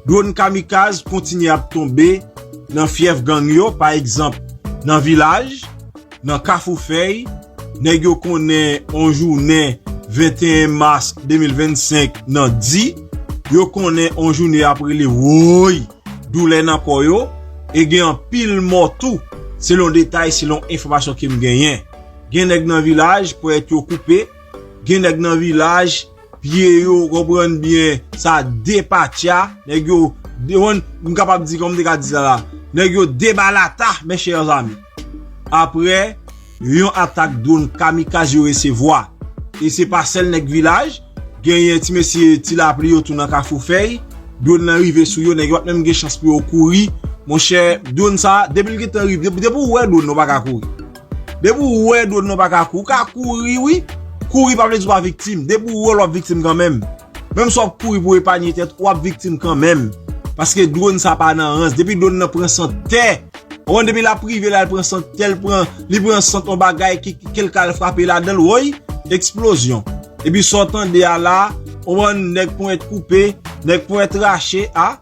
Dwon kamikaz kontinye ap tonbe nan fyèf gang yo, pa egzanp nan Vilaj, nan Kafou Fèy, nèg yo konnen on jounen 21 mas 2025 nan di, yo konnen on joune ap rele wooyy, doulè nan kò yo, e gen anpil mò tou, selon detay, selon enfòmasyon ke m genyen. Gen nèg nan Vilaj, ponyèt yo koupe, gen nèg nan Vilaj. Pye yo ou konprann byen sa depatcha nèg yo dewann m kapab di kòm te ka di sa la nèg yo debalata mes chers amis aprè yon atak drone kamikaz yo resevwa e se pa sèl nèg vilaj genyen ti mesye ti lapli yo tou nan kafou fèy drone lan rive sou yo nèg yo pat menm gen chans pou yo kouri monchè drone sa depi l gentan rive depi w wè drone ou paka kouri. Depi ou wè dwon nan pa ka kouri, ou ka kouri wi, kouri pa vle di ou pa viktim, depi ou wèl wap viktim kanmenm, menm si wap kouri pou epanye tèt ou wap viktim kanmenm, paske dwon sa pa nan rans, depi dwon nan pran sant tè, konprann depi lap rive la li pran sant tè, li pran sant yon bagay ki kelke al frape ladanl woy, eksplozyon, epi sa w tande a la, konprann nèg ponyèt koupe, nèg ponyèt rache a,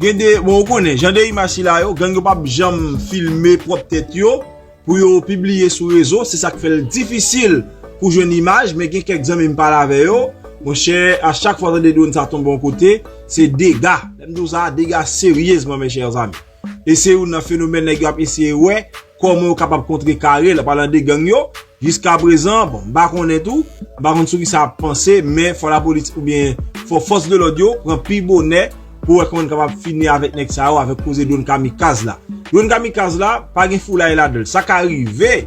gen de, bon ou konnen jan de imaj sila yo, gang yo pap janm filme pwòp tèt yo. Pou yo pibliye sou rezo se sak fèl difisil pou jwenn imaj men gen kèk zanmi m pale avè yo monchè a chak fwa tande dwonn sa tonbe yon kote se dega lèm di w sa dega seryezman mes chers amis e se youn nan fenomèn nèg yo ap eseye wè kòman yo kapab kontre kare l apalan de gang yo jiska prezan bon m pa konnen tou m pa konn sou kisa yap panse men fò lapolis oubyen fò fòs de lòd yo pran pi bonè Pou wè kòman n kapab fini avèk nèg sa yo avèk koze dwon kamikaz la. Dwon kamikaz la pa gen foulay ladan l. Sa ka rive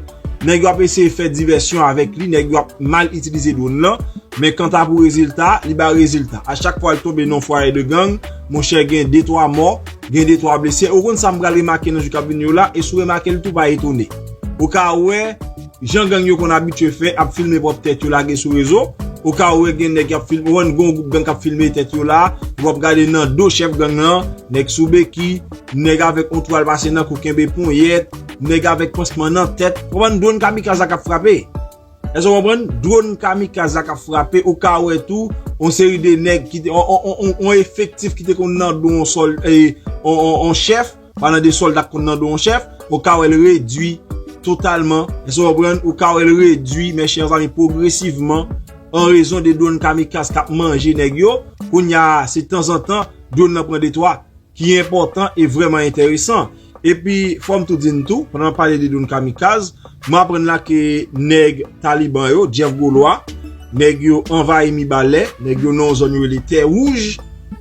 nèg yo ap eseye fè divèsyon avèk li, nèg yo ap mal itilize dwon lan, men kanta pou rezilta, li bay rezilta. A chak fwa l tonbe nan yon fwaye de gang, monchè gen de twa mò, gen de twa blese. Ou konn sa m pral remake nan jou k ap vini yo la e si w remake l tou pa etone. Ou ka wè. Jan gang yo konn abitye fè ap filme pwòp tèt yo lage sou rezo, okaw ou wè gen nèg kap filme, ou wè gen yon gwoup gang kap filme tèt yo la, ou ap gade nan do chèf gang lan, nèg sou beki, nèg avèk yon twal pase nan kou kenbe ponyèt, nèg avèk pansman nan tèt, ou konprann, dwon kamikaz la kap frape. Èske ou konprann? Dwon kamikaz la kap frape, ou ka wè tou yon seri de nèg ki te, yon efektif ki te konn nan do yon sòl, yon chèf, Palan de solda k konn nan do yon chèf, ou ka wè l redui totalman, èske w konprann, ou ka wè l redui, mè chè zanmi, pwogresivman, an rezon de dwonn kamikaz k ap manje nèg yo, kounye a, se tanzantan, dwonn nan pran detwa, ki enpòtan e vrèman enteresan. Epi, fò m tou di n tou, pandan n ap pale de dwonn kamikaz, Mwen aprann la ke nèg Taliban yo, Jeff Golois, nèg yo anvayi Mibalè, nèg yo nan yon zòn yo rele Tè Wouj,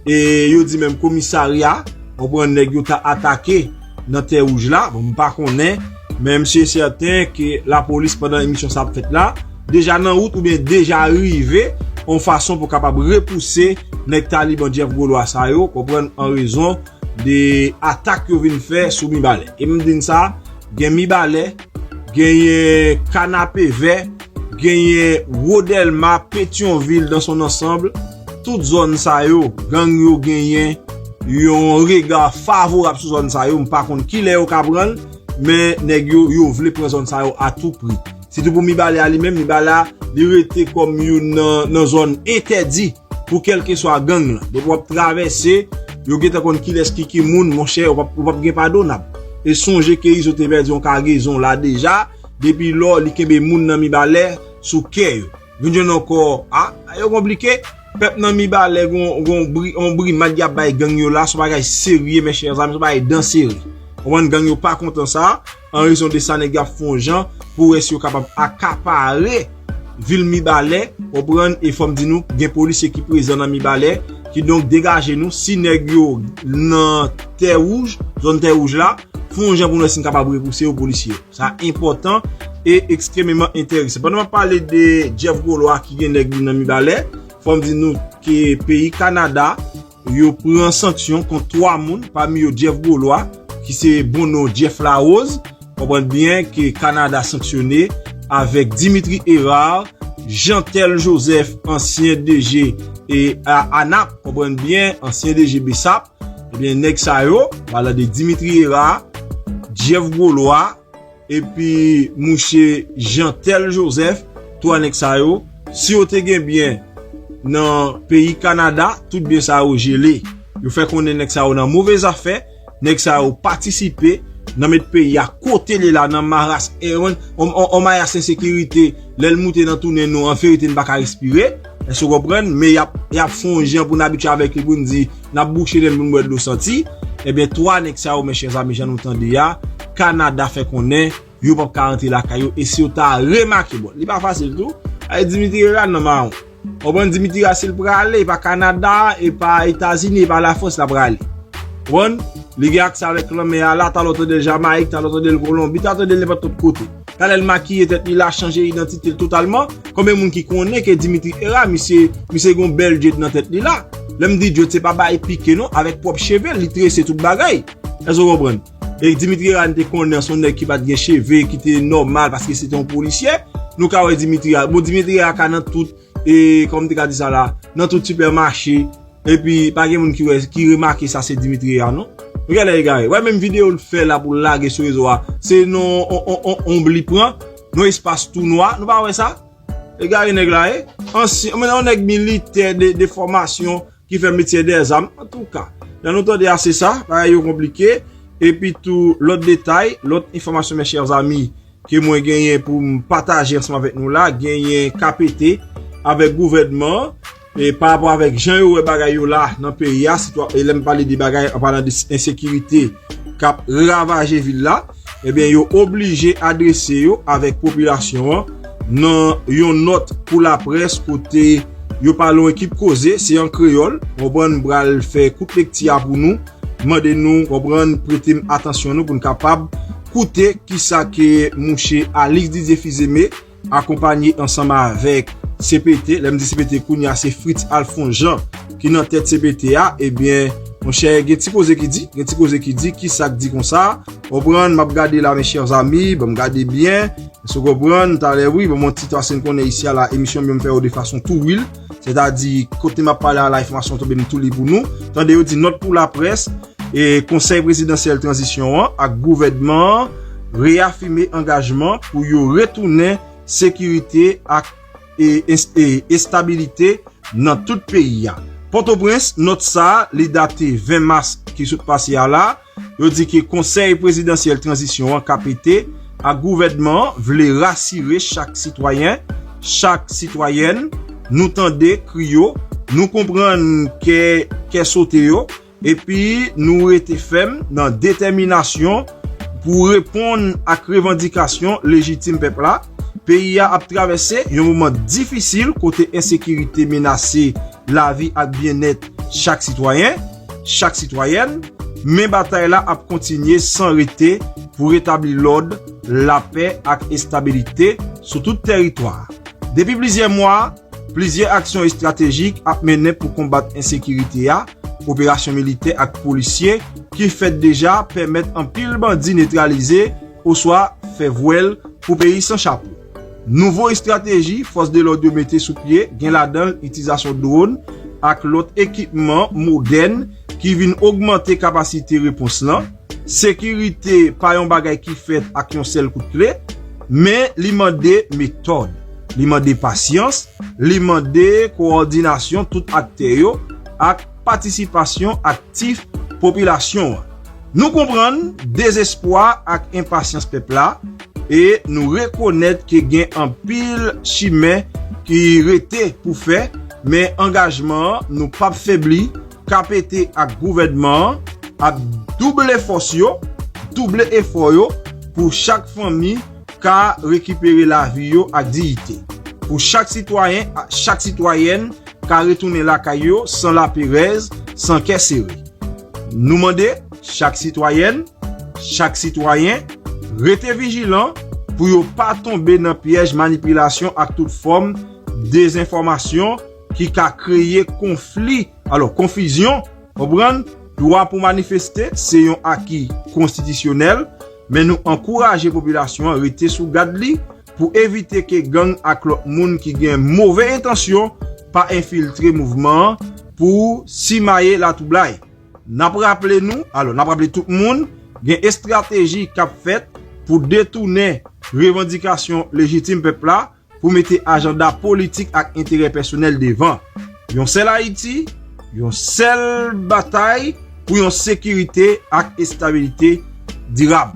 e yo di menm komisarya, ou konprann, nèg yo ta atake nan Tè Wouj la, bon m pa konnen, men m si e sèten ke lapolis pandan emisyon sa ap fèt la, deja nan wout oubyen deja rive yon fason pou kapab repouse nèg Taliban Jeff Golois sa yo, ou konprann, an rezon de atak yo vin fè sou Mibalè. E m di n sa, Gen Mibalè, genyen Kanapevè, genyen Wo Dèlma, Petyonvil dans son ansanbl, tout zòn sa yo, gang yo genyen yon rega favorab sou zòn sa yo, m pa konn kilè yo ka pran l, men nèg yo, yo vle pran zòn sa yo a tou pri. Sitou pou Mibalè a li menm, Mibalè a li rete kòm youn nan zòn entèdi. Pou kelkeswa gang lan. Depi wap travèse, yo gentan konn kilès ki ki moun, monchè ou pap ou pap gen padonab. E sonje ke Izo te pèdi yon kagezon la deja, depi lò li kenbe moun nan Mibalè sou kè yo. Vin jwenn ankò, a, bagay yo konplike. Pèp nan Mibalè gon gon bri yon brimad yap bay gang yo la, son bagay serye mes chers amis, son bagay dan sere. Konprann gang yo pa kontan sa. An rezon de sa nèg yo ap fon jan pou wè si yo kapab akapare vil Mibalè, konprann, e fòm di nou gen polisye ki prezan nan Mibalè, ki donk degaje nou si nèg yo nan tè wouj, zòn tè wouj la, fon jan pou nou wè si nou kapab repouse yo polisye. Sa enpòtan e ekstrememan enterese. Pandan map pale de Jeff Golois ki gen nèg li nan Mibalè, fòm di nou ke peyi Kanada, Yo pran sanksyon kont 3 moun, pami yo Jeff Gaulois, ki se bon non Jeff Larose, konprann byen ke Kanada sanksyone, avèk Dimitri Herard, Jeantel Joseph, ansyen DG ANAP, konprann byen, ansyen DG BSAP, ebyen nèg sa yo, palan de Dimitri Herard, Jeff Gaulois, Epi mouche Jeantel Joseph, 3 nèg sa yo, si yo te gen byen nan peyi Kanada, tout byen sa yo jele. Yo fè konnen nèg sa yo nan move zafè, nèg sa yo patisipe nan met peyi a kote li la nan maras, yon mayas ensekirite lè l moute nan tounen nou, an verite n pa ka respire. Èske ou konprann? Men y ap fè yon jan pou n abitye avèk li pou n di n ap bouche nen n pou n bwè dlo santi. Ebyen 3 nèg sa yo men chèzami jan nou tande a, Kanada fè konnen yo p ap ka rantre lakay yo e si yo ta remake bon li pa fasil tou ale Dimitri Herard nan mawon. Ou konprann Dimitri Herard si l prale e pa Kanada, e pa Etazini, e pa Lafrans l ap prale. Ou konprann? Li gen aksè avèk lanmè a la, talè w tande l Jamayik, talè w tande l Kolonbi, talè w tande l nenpòt lòt kote. Talè l makiye tèt li la chanje idantite l totalman, konbyen moun ki konnen ke Dimitri Herard misye misye gen yon bèl dread nan tèt li la, lè m di dread se pa bay pike non avèk pwòp cheve l li trese tout bagay, èske w konprann? E Dimitri Herard n te konnen s on nèg ki pa t gen cheve ki te nòmal paske se te yon polisyè, nou ka wè Dimitri Herard bon Dimitri Herard ka nan tout E kòman m te ka di sa la, nan tout sipèmache, epi pa gen moun ki wè, ki remake sa se Dimitri a non. Nou gen lè egare. Wè menm videyo l fè la pou l lage sou rezo a, se nan yon onb li pran, nan yon espas tou nwa, nou pa wè sa? Egare nèg la ye. Ansyen, yon nèg militè de fòmasyon ki fè metye dèzam. Antouka, lè nou tande a se sa, bagay yo konplike. Epitou lòt detay, lòt enfòmasyon mes chers amis. ke mwen genyen pou m pataje ansanm avèk nou la genyen KPT avèk gouvènman an e pa rapò avèk jan yo wè bagay yo la nan peyi a sitou e lè m pale de bagay an palan de ensekirite k ap ravaje vil la ebyen yo oblije adrese yo avèk popilasyon an nan yon nòt pou laprès kote yo pale yon ekip koze se an kreyòl ou konprann m pral fè kout lekti a pou nou mande nou konprann prete m atansyon nou pou n kapab Koute kisa ke mouche Alix Didier Fils-Aimé akonpanye ansanm avèk cpt, lè m di cpt kounye a se Fritz Alphonse Jean ki nan tèt cpt a, ebyen monchè gen ti koze ki di, gen ti koze ki di, kisa k di konsa, ou konprann, m ap gade la mes chers amis, banm gade byen, èske ou konprann, talè wi, banm yon ti tras en konnen isi a la, emisyon m yo m fè yo de fason tou wil, sètadi kote m ap pale a la enfòmasyon tonbe m tou li pou nou, tande yo di nòt pou laprès. Konsèy Prezidansyèl Tranzisyon an ak gouvènman an reyafime angajman pou yo retounen sekirite ak estabilite nan tout peyi a. Pòtoprens, Nòt sa li date 20 mas ki sot pase a la, yo di ke Konsèy Prezidansyèl Tranzisyon an, kpt, ak gouvènman an vle rasire chak sitwayen, chak sitwayèn, nou tande kri yo, nou konprann kè sote yo, Epi nou rete fèm nan detèminasyon pou reponn ak revandikasyon lejitim pèp la. Peyi a ap travèse yon moman difisil kote ensekirite menase lavi ak byennèt chak sitwayen, chak sitwayèn, men batay la ap kontinye san rete pou retabli lòd, lapè ak estabilite sou tout tèritwa a. Depi plizyè mwa, Plizyè aksyon estratejik ap mennen pou konbat ensekirite a, operasyon militè ak polisye ki fèt deja pèmèt anpil bandi netralize oswa fè vwèl pou peyi san chapo. Nouvo estrateji fòs de lòd yo mete sou pye gen ladan l itilzasyon dwòn ak lòt ekipman modèn ki vin ogmante kapasite repons lan, Sekirite pa yon bagay ki fèt ak yon sèl kout kle, men li mande metòd, li mande pasyans, li mande kowòdinasyon tout aktè yo ak patisipasyon aktif popilasyon an. Nou konprann dezespwa ak enpasyans pèp la e nou rekonèt ke gen anpil chimen ki rete pou fè, men angajman nou pap febli KPT ak gouvènman an ap double fòs yo, double efò yo pou chak fanmi ka rekipere lavi yo ak diyite, pou chak sitwayen ak chak sitwayèn ka retounen lakay yo san laperèz, san kè sere. Nou mande chak sitwayèn, chak sitwayen rete vijilan pou yo pa tonbe nan pyèj manipilasyon ak tout fòm dezenfòmasyon, ki ka kreye konfli, alò konfizyon, konprann, dwa pou manifeste se yon aki konstitisyonèl, men nou ankouraje popilasyon an rete sou gad li pou evite ke gang ak lòt moun ki gen move entansyon pa enfiltre mouvman an pou simaye latwoublay. N ap raple nou, alò n ap raple tout moun, gen estrateji k ap fèt pou detounen revandikasyon lejitim pèp la pou mete ajanda politik ak enterè pèsonèl devan. Yon sèl Ayiti, yon sèl batay pou yon sekirite ak estabilite dirab.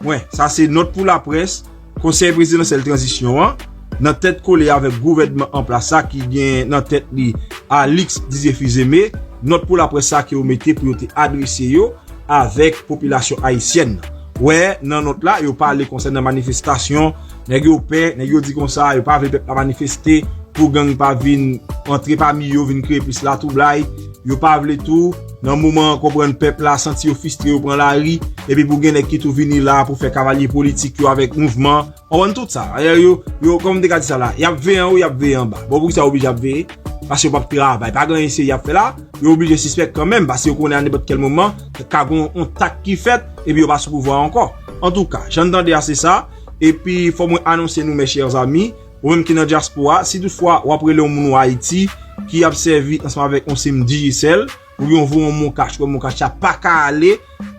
Pwen. Sa se nòt pou laprès Konsèy Prezidansyèl Tranzisyon an, nan tèt kole avèk gouvènman an plas la ki gen nan tèt li Alix Didier Fils-Aimé, nòt pou laprès sa ke yo mete pou yo te adrese yo avèk popilasyon ayisyèn nan. Wè nan nòt la, yo pale konsènan manifestasyon. Nèg yo pè, nèg yo di konsa, yo pa vle pèp la manifeste pou gang pa vin antre pami yo, vin kreye plis latwoublay. Yo pa vle tou, nan moman an konprann pèp la santi yo fistre yo pran lari, epi pou gen nèg ki tou vini la pou fè kavalye politik yo avèk mouvman. Konprann tout sa. Ayè yo, yo, kòman m te ka di sa la, y ap veye anwo, y ap veye anba. Bon poukisa yo oblije ap veye? Paske yo p ap travay. Pa gen anyen serye y ap fè la. Yo oblije sispèk kanmenm, paske yo konnen a nenpòt kèl moman, ka gen yon tak ki fèt, epi yo pa sou pouvwa ankò. Antouka, jan n tande a se sa. Epi fò mwen anonse nou mes chers amis, ou menm ki nan dyaspora, si tout fwa wap rele yon moun ou Ayiti, ki ap sèvi ansanm avèk yon sim Digicel, ou gen yon voye yon moncash ou wè moncash la paka ale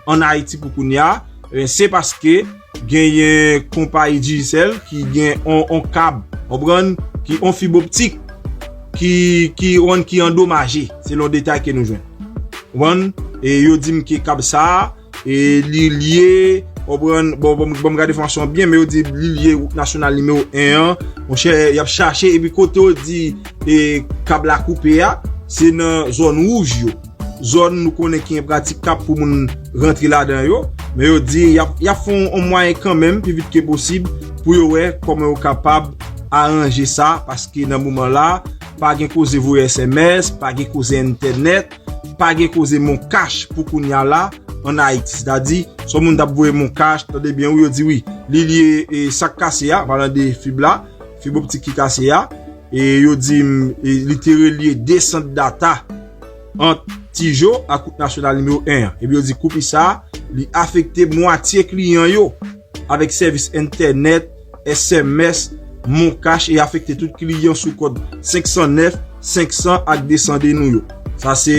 an Ayiti pou kounya, ebyen se paske genyen konpayi Digicel ki gen yon kab, konprann, ki yon fib optik ki ki konprann ki andomaje, selon detay ke nou jwenn. Konprann? E yo dim ke kab sa a. E li lye, konprann, bon, bon, bon, gade fòmasyon byen, men yo di li lye wout nasyonal nimewo 1 an, mwen chè, y ap chache, epi kote yo di, e, kab la koupe a, se nan zòn wouj yo, zòn nou konnen ki enpratikab pou moun rantre ladan yo, men yo di, y ap, y ap fè yon mwayen kanmenm, pi vit ke posib, pou yo wè kòman yo kapab aranje sa, paske nan moman la, pa gen koze voye sms, pa gen koze entènèt. pa gen koze mon cash pou kounya la an Ayiti. Se ta di, son moun tap voye mon cash, tande byen wi yo di wi, li liye e sak kase a, palan de fib la, fib optik ki kase a, e yo di m, li te relye 2 sant data ant Tijo ak wout nasyonal nimewo 1 an. Epi yo di koupi sa, li afekte mwatye kliyan yo avèk sèvis entènèt, sms, MonCash e afekte tout kliyan sou kòd 509, 500 ak 200 de nou yo. Sa se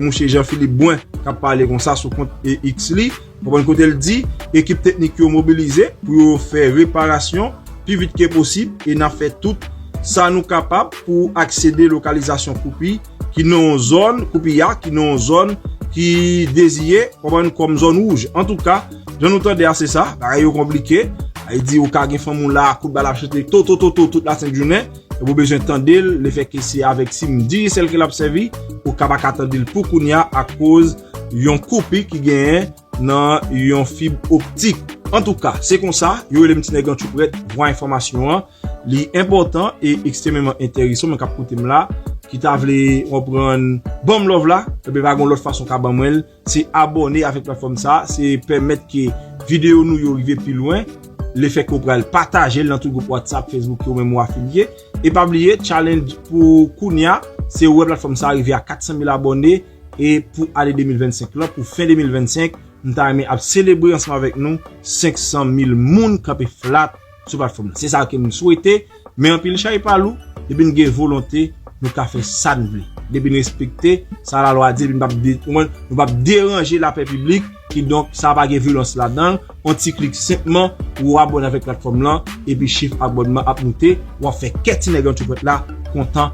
mouche Jean Philippe Brun k ap pale konsa sou kont X li, konprann kote l di, Ekip teknik yo mobilize pou yo fè reparasyon pi vit ke posib e n ap fè tout sa nou kapab pou aksede lokalizasyon koupi ki nan yon zòn, Koupiya, ki nan yon zòn ki deziye, konprann, kòm zòn wouj. Antouka, jan nou tande a se sa, bagay yo konplike. Li di ou ka gen fanm ou la, kout bal ap chante totototo tout lasent jounen, epi ou bezwen tande l, le fè ke se avèk sim Digicel ke l ap sèvi, ou ka pa ka tande l pou kounya akoz yon koupi ki genyen. nan yon fib optik. Antouka, se konsa, yo rele m Tinèg Antchouprèt, vwa enfòmasyon an. Li enpòtan e ekstrememan enteresan w menm k ap koute m la, ki ta vle konprann, ban m love la, enben pa gen yon lòt fason w ka ban mwen l, se abòne avèk platfòm sa a, se pèmèt ke videyo nou yo rive pi lwen, lefè ke w pral pataje l nan tout gwoup whatsapp, facebook yo menm ou afilye. E pa bliye, challenge pou kounya, se wè platfòm sa a rive a 400 mil abòne, E pou ane 2025 lan, pou fen 2025, m ta renmen ap selebre ansanm avèk nou 500 mil moun kanpe flat sou platfòm nan. Se sa ke m swete, men anpil chay pa lou, depi n gen volonte, nou ka fè sa n vle. Depi n respekte sa la lwa di, depi nou pap deranje lapè piblik, ki donk sa pa gen vyolans ladan l, on ti klik senpman pou ou abòne avèk platfòm lan, epi chif abònman ap moute, wap fè kè ti nèg antreprèt la kontan.